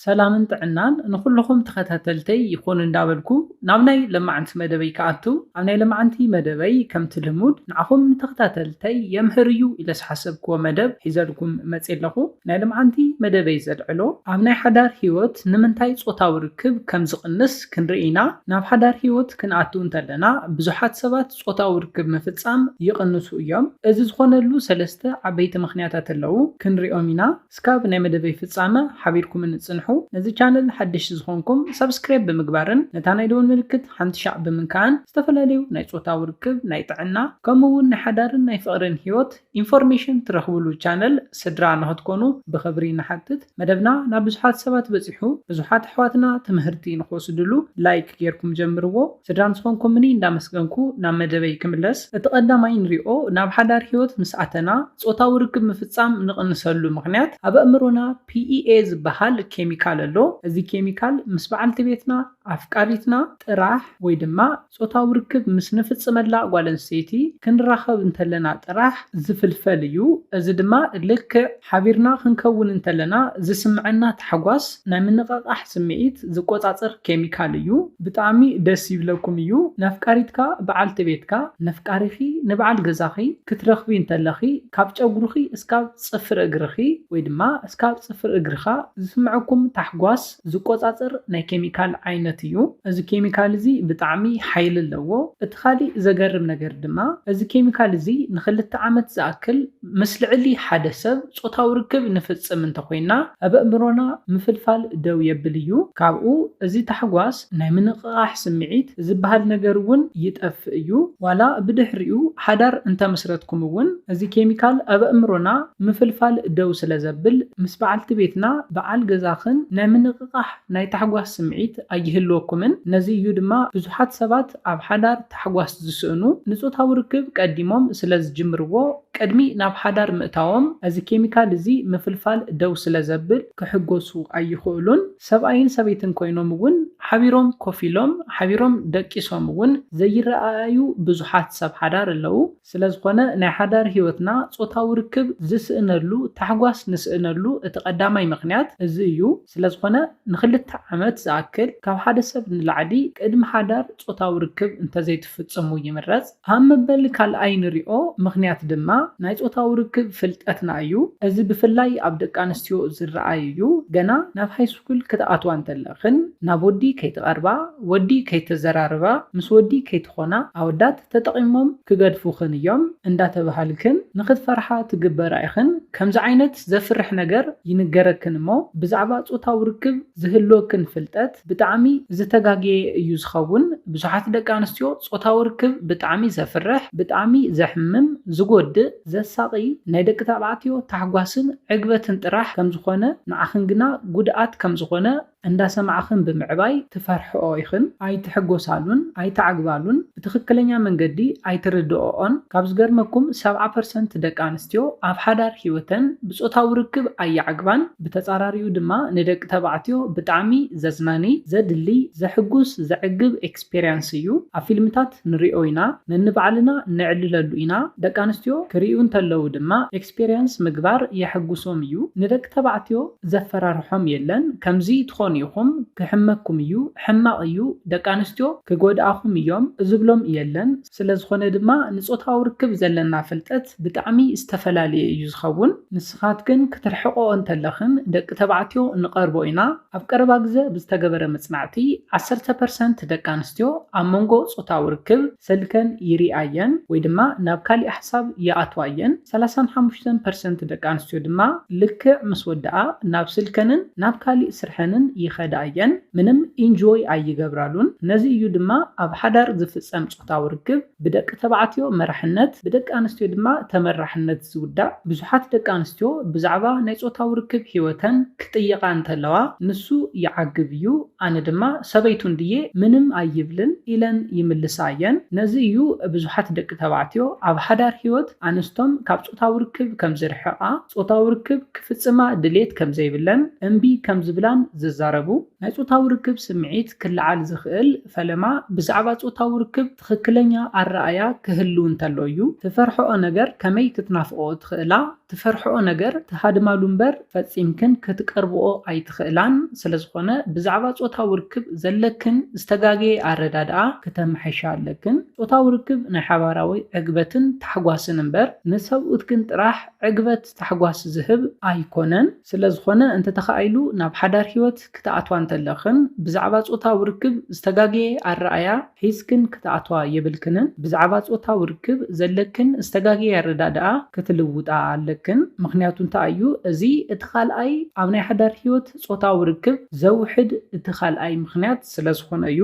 ሰላምን ጥዕናን ንኹሉኹም ተኸታተልተይ ይኹን እንዳበልኩ ናብ ናይ ለማዓንቲ መደበይ ክኣቱ ኣብ ናይ ለማዓንቲ መደበይ ከምቲ ልሙድ ንዓኹም ንተኸታተልተይ የምህር እዩ ኢለ ዝሓሰብክዎ መደብ ሒዘልኩም መጼ ኣለኹ ናይ ለማዓንቲ መደበይ ዘልዕሎ ኣብ ናይ ሓዳር ሂወት ንምንታይ ጾታዊ ርክብ ከም ዝቕንስ ክንርኢ ኢና ናብ ሓዳር ሂወት ክንኣቱ እንተለና ብዙሓት ሰባት ጾታዊ ርክብ ምፍጻም ይቕንሱ እዮም እዚ ዝኾነሉ ሰለስተ ዓበይቲ ምኽንያታት ኣለዉ ክንሪኦም ኢና እስካብ ናይ መደበይ ፍጻመ ሓቢርኩምኒ ጽንሑ። ነዚ ቻነል ሓደሽቲ ዝኾንኩም ሳብስክራይብ ብምግባርን ነታ ናይ ደወል ምልክት ሓንቲ ሻዕ ብምንካእን ዝተፈላለዩ ናይ ጾታዊ ርክብ፣ ናይ ጥዕና ከምኡ ውን ናይ ሓዳርን ናይ ፍቕርን ሂወት ኢንፎርሜሽን ትረኽብሉ ቻነል ስድራ ንኽትኮኑ ብኽብሪ ንሓትት። መደብና ናብ ብዙሓት ሰባት በጺሑ ብዙሓት ኣሕዋትና ትምህርቲ ንኽወስድሉ ላይክ ጌርኩም ጀምርዎ። ስድራ ምስ ኾንኩምኒ እንዳመስገንኩ ናብ መደበይ ክምለስ፣ እቲ ቀዳማይ ንሪኦ ናብ ሓዳር ህይወት ምስ ኣተና ጾታዊ ርክብ ምፍጻም ንቕንሰሉ ምኽንያት ኣብ ኣእምሮና PEA ዝበሃል ኬሚካል ኣሎ እዚ ኬሚካል ምስ በዓልቲ ቤትና፣ ኣፍቃሪትና፣ ጥራሕ ወይ ድማ ጾታዊ ርክብ ምስ ንፍጽመላ ጓል ኣንስተይቲ ክንራኸብ እንተለና ጥራሕ ዝፍልፈል እዩ እዚ ድማ ልክዕ ሓቢርና ክንከውን እንተለና ዝስምዐና ታሕጓስ ናይ ምንቕቓሕ ስምዒት ዝቆጻጽር ኬሚካል እዩ። ብጣዕሚ ደስ ይብለኩም እዩ ነፍቃሪትካ ብዓልቲ ቤትካ ነፍቃሪኺ ንብዓል ገዛኺ ክትረኽቢ እንተለኺ ካብ ጨጉርኺ እስካብ ጽፍሪ እግርኺ ወይ ድማ እስካብ ጽፍሪ እግርኻ ዝስምዐኩም ታሕጓስ ዝቆጻጸር ናይ ኬሚካል ዓይነት እዩ። እዚ ኬሚካል እዚ ብጣዕሚ ሓይሊ ኣለዎ። እቲ ካሊእ ዘገርም ነገር ድማ እዚ ኬሚካል እዚ ንክልተ ዓመት ዝኣክል ምስ ልዕሊ ሓደ ሰብ ጾታዊ ርክብ ንፍጽም እንተኾይንና ኣብ ኣእምሮና ምፍልፋል ደው የብል እዩ። ካብኡ እዚ ታሕጓስ ናይ ምንቕቓሕ ስምዒት ዝበሃል ነገር እውን ይጠፍእ እዩ። ዋላ ብድሕሪኡ ሓዳር እንተመስረትኩም እውን እዚ ኬሚካል ኣብ ኣእምሮና ምፍልፋል ደው ስለዘብል ምስ በዓልቲ ቤትና፣ በዓል ገዛኽን ናይ ምንቕቓሕ፣ ናይ ታሕጓስ ስምዒት ኣይህልወኩምን። ነዚ እዩ ድማ ብዙሓት ሰባት ኣብ ሓዳር ታሕጓስ ዝስእኑ፣ ንጾታዊ ርክብ ቀዲሞም ስለዝጅምርዎ። ቅድሚ ናብ ሓዳር ምእታዎም፣ እዚ ኬሚካል እዚ ምፍልፋል ደው ስለዘብል ክሕጎሱ ኣይኽእሉን። ሰብኣይን ሰበይትን ኮይኖም እውን ሓቢሮም ኮፍ ኢሎም፣ ሓቢሮም ደቂሶም እውን ዘይረኣኣዩ ብዙሓት ሰብ ሓዳር ኣለዉ። ስለዝኾነ ናይ ሓዳር ሕይወትና ጾታዊ ርክብ ዝስእነሉ ታሕጓስ ንስእነሉ እቲ ቀዳማይ ምኽንያት እዚ እዩ። ስለዝኾነ ንክልተ ዓመት ዝኣክል ካብ ሓደ ሰብ ንላዕሊ ቅድሚ ሓዳር ጾታዊ ርክብ እንተዘይትፍጽሙ ይምረጽ። ኣብ መበል ካልኣይ ንሪኦ ምኽንያት ድማ ናይ ጾታዊ ርክብ ፍልጠትና እዩ። እዚ ብፍላይ ኣብ ደቂ ኣንስትዮ ዝረኣይ እዩ። ገና ናብ ሃይስኩል ክትኣትዋ እንተለኽን ናብ ወዲ ከይትቐርባ፣ ወዲ ከይተዘራርባ፣ ምስ ወዲ ከይትኾና፣ ኣወዳት፣ ተጠቂሞም ክገድፉክን እዮም እንዳተባሃልክን ንክትፈርሓ ትግበራ ኢክን ከምዚ ዓይነት ዘፍርሕ ነገር ይንገረክን እሞ ብዛዕባ ጾታዊ ርክብ ዝህልወክን ፍልጠት ብጣዕሚ ዝተጋገየ እዩ ዝከውን ብዙሓት ደቂ ኣንስትዮ ጾታዊ ርክብ ብጣዕሚ ዘፍርሕ ብጣዕሚ ዘሕምም ዝጎድእ ዘሳቂ ናይ ደቂ ተባዕትዮ ታሕጓስን ዕግበትን ጥራሕ ከምዝኮነ ንዓክን ግና ጉድኣት ከምዝኮነ እንዳሰማዕኽን ብምዕባይ ትፈርሕኦ ኢኽን ኣይትሕጎሳሉን ኣይትዓግባሉን ብትኽክለኛ መንገዲ ኣይትርድኦኦን ካብ ዝገርመኩም ሰብዓ ፐርሰንት ደቂ ኣንስትዮ ኣብ ሓዳር ሂወተን ብፆታዊ ርክብ ኣይዓግባን ብተፃራሪኡ ድማ ንደቂ ተባዕትዮ ብጣዕሚ ዘዝናኒ ዘድልይ ዘሕጉስ ዘዕግብ ኤክስፔርያንስ እዩ ኣብ ፊልምታት ንሪኦ ኢና ነንባዕልና ነዕልለሉ ኢና ደቂ ኣንስትዮ ክሪኡ እንተለዉ ድማ ኤክስፒርያንስ ምግባር የሕጉሶም እዩ ንደቂ ተባዕትዮ ዘፈራርሖም የለን ከምዚ ትኾኑ ኢኹም ክሕመኩም እዩ ሕማቕ እዩ ደቂ ኣንስትዮ ክጎድኣኹም እዮም ዝብሎም የለን ስለዝኾነ ድማ ንጾታዊ ርክብ ዘለና ፍልጠት ብጣዕሚ ዝተፈላለየ እዩ ዝኸውን ንስኻትክን ክትርሕቕኦ እንተለኽን ደቂ ተባዕትዮ ንቐርቦ ኢና ኣብ ቀረባ ግዘ ብዝተገበረ መጽናዕቲ ዓሰርተ ፐርሰንት ደቂ ኣንስትዮ ኣብ መንጎ ጾታዊ ርክብ ሰልከን ይርኣ እየን ወይ ድማ ናብ ካሊእ ሓሳብ ይኣትዋ እየን። ሰላሳን ሓሙሽተን ፐርሰንት ደቂ ኣንስትዮ ድማ ልክዕ ምስ ወድኣ ናብ ስልከንን ናብ ካሊእ ስርሐንን ይኸዳ እየን። ምንም ኢንጆይ ኣይገብራሉን። ነዚ እዩ ድማ ኣብ ሓዳር ዝፍፀም ፆታዊ ርክብ ብደቂ ተባዕትዮ መራሕነት ብደቂ ኣንስትዮ ድማ ተመራሕነት ዝውዳእ። ብዙሓት ደቂ ኣንስትዮ ብዛዕባ ናይ ፆታዊ ርክብ ህይወተን ክጥየቓ እንተለዋ ንሱ ይዓግብ እዩ። ኣነ ድማ ሰበይቱ እንድየ ምንም ኣይብልን ኢለን ይምልሳ እየን። ነዚ እዩ ብዙሓት ደቂ ተባዕትዮ ኣብ ሓዳር ህይወት ኣንስቶም ካብ ጾታዊ ርክብ ከም ዝርሕቓ፣ ጾታዊ ርክብ ክፍጽማ ድሌት ከም ዘይብለን እምቢ ከም ዝብላን ዝዛረቡ። ናይ ጾታዊ ርክብ ስምዒት ክለዓል ዝኽእል ፈለማ ብዛዕባ ጾታዊ ርክብ ትኽክለኛ ኣረኣእያ ክህሉ እንተሎ እዩ። ትፈርሕኦ ነገር ከመይ ክትናፍቕኦ ትኽእላ? ትፈርሕኦ ነገር ትሃድማሉ እምበር ፈጺምክን ክትቀርብኦ ኣይትኽእላን፣ ስለዝኾነ ብዛዕባ ጾታዊ ርክብ ዘለክን ዝተጋገየ ኣረዳድኣ ክተምሕሻ ኣለክን። ጾታዊ ርክብ ናይ ሓባራዊ ዕግበትን ታሕጓስን እምበር ንሰብኡትክን ጥራሕ ዕግበት ታሕጓስ ዝህብ ኣይኮነን። ስለዝኾነ እንተተኻኢሉ ናብ ሓዳር ህይወት ክትኣትዋ እንተለኽን ብዛዕባ ጾታዊ ርክብ ዝተጋገየ ኣረኣእያ ሒዝክን ክትኣትዋ የብልክንን። ብዛዕባ ጾታዊ ርክብ ዘለክን ዝተጋገየ ኣረዳድኣ ክትልውጣ ኣለክን። ምኽንያቱ እንታይ እዩ እዚ እቲ ካልኣይ ኣብ ናይ ሓዳር ህይወት ጾታዊ ርክብ ዘውሕድ እቲ ካልኣይ ምኽንያት ስለዝኾነ እዩ።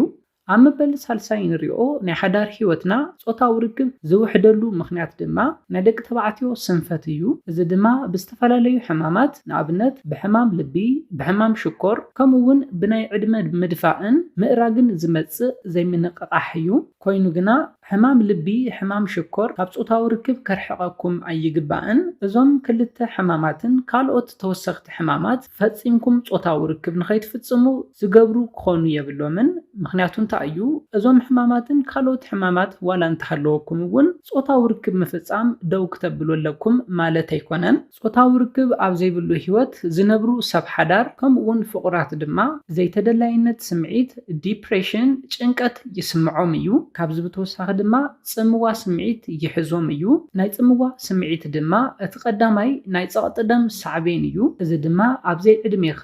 ኣብ መበል ሳልሳይ እንሪኦ ናይ ሓዳር ህይወትና ጾታዊ ርክብ ዝውሕደሉ ምኽንያት ድማ ናይ ደቂ ተባዕትዮ ስንፈት እዩ። እዚ ድማ ብዝተፈላለዩ ሕማማት ንኣብነት ብሕማም ልቢ፣ ብሕማም ሽኮር ከምኡ እውን ብናይ ዕድመ ምድፋእን ምእራግን ዝመጽእ ዘይምንቕቓሕ እዩ። ኮይኑ ግና። ሕማም ልቢ፣ ሕማም ሽኮር ካብ ጾታዊ ርክብ ከርሕቐኩም ኣይግባእን። እዞም ክልተ ሕማማትን ካልኦት ተወሰኽቲ ሕማማት ፈጺምኩም ጾታዊ ርክብ ንኸይትፍጽሙ ዝገብሩ ክኾኑ የብሎምን። ምኽንያቱ እንታይ እዩ? እዞም ሕማማትን ካልኦት ሕማማት ዋላ እንተሃለወኩም እውን ጾታዊ ርክብ ምፍጻም ደው ክተብሉ ኣለኩም ማለት ኣይኮነን። ጾታዊ ርክብ ኣብ ዘይብሉ ህይወት ዝነብሩ ሰብ ሓዳር ከምኡ'ውን ፍቑራት ድማ ዘይተደላይነት ስምዒት፣ ዲፕሬሽን፣ ጭንቀት፣ ይስምዖም እዩ። ካብዚ ብተወሳኺ ድማ ጽምዋ ስምዒት ይሕዞም እዩ። ናይ ጽምዋ ስምዒት ድማ እቲ ቀዳማይ ናይ ጸቕጢ ደም ሳዕቤን እዩ። እዚ ድማ ኣብ ዘይዕድሜኻ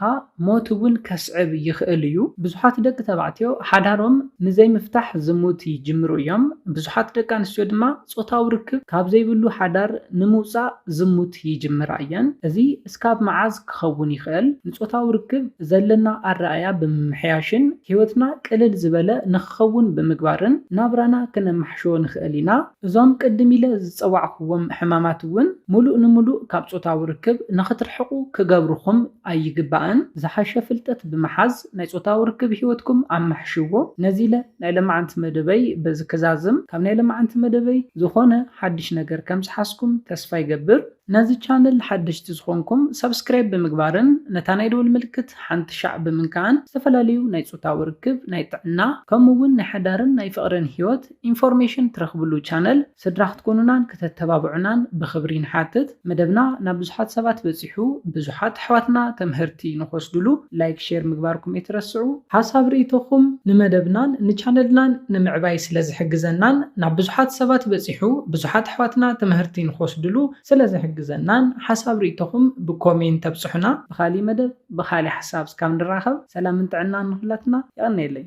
ሞት እውን ከስዕብ ይኽእል እዩ። ብዙሓት ደቂ ተባዕትዮ ሓዳሮም ንዘይምፍታሕ ዝሙት ይጅምሩ እዮም። ብዙሓት ደቂ ኣንስትዮ ድማ ጾታዊ ርክብ ካብ ዘይብሉ ሓዳር ንምውጻእ ዝሙት ይጅምራ እየን። እዚ እስካብ መዓዝ ክኸውን ይኽእል? ንጾታዊ ርክብ ዘለና ኣረኣእያ ብምምሕያሽን ህይወትና ቅልል ዝበለ ንኽኸውን ብምግባርን ናብራና ክነማሕሾ ንኽእል ኢና። እዞም ቅድም ኢለ ዝጸዋዕኩዎም ሕማማት እውን ምሉእ ንምሉእ ካብ ጾታዊ ርክብ ንኽትርሕቑ ክገብርኹም ኣይግባእን። ዝሓሸ ፍልጠት ብምሓዝ፣ ናይ ጾታዊ ርክብ ሂወትኩም ኣማሕሽዎ። ነዚ ኢለ ናይ ለማዓንቲ መደበይ በዚ ክዛዝም። ካብ ናይ ለማዓንቲ መደበይ ዝኮነ ሓድሽ ነገር ከም ዝሓዝኩም ተስፋ ይገብር። ነዚ ቻነል ሓደሽቲ ዝኮንኩም ሳብስክራይብ ብምግባርን ነታ ናይ ደወል ምልክት ሓንቲ ሻዕ ብምንካዕን ዝተፈላለዩ ናይ ጾታዊ ርክብ፣ ናይ ጥዕና፣ ከምኡ ውን ናይ ሓዳርን ናይ ፍቅርን ሂወት ኢንፎርሜሽን ትረክብሉ ቻነል ስድራ ክትኮኑናን ክተተባብዑናን ብኽብሪ ንሓትት። መደብና ናብ ብዙሓት ሰባት በጺሑ ብዙሓት ኣሕዋትና ተምህርቲ ንክወስድሉ ላይክ ሼር ምግባርኩም ኣይትረስዑ። ሓሳብ ርኢቶኹም ንመደብናን ንቻነልናን ንምዕባይ ስለዝሕግዘናን ናብ ብዙሓት ሰባት በጺሑ ብዙሓት ኣሕዋትና ተምህርቲ ንክወስድሉ ስለዝሕግዘናን ሓሳብ ርኢቶኹም ብኮሜንት ኣብጽሑና። ብኻሊእ መደብ ብኻሊእ ሓሳብ እስካብ ንራኸብ ሰላምን ጥዕናን ንኹላትና የቐንየለይ።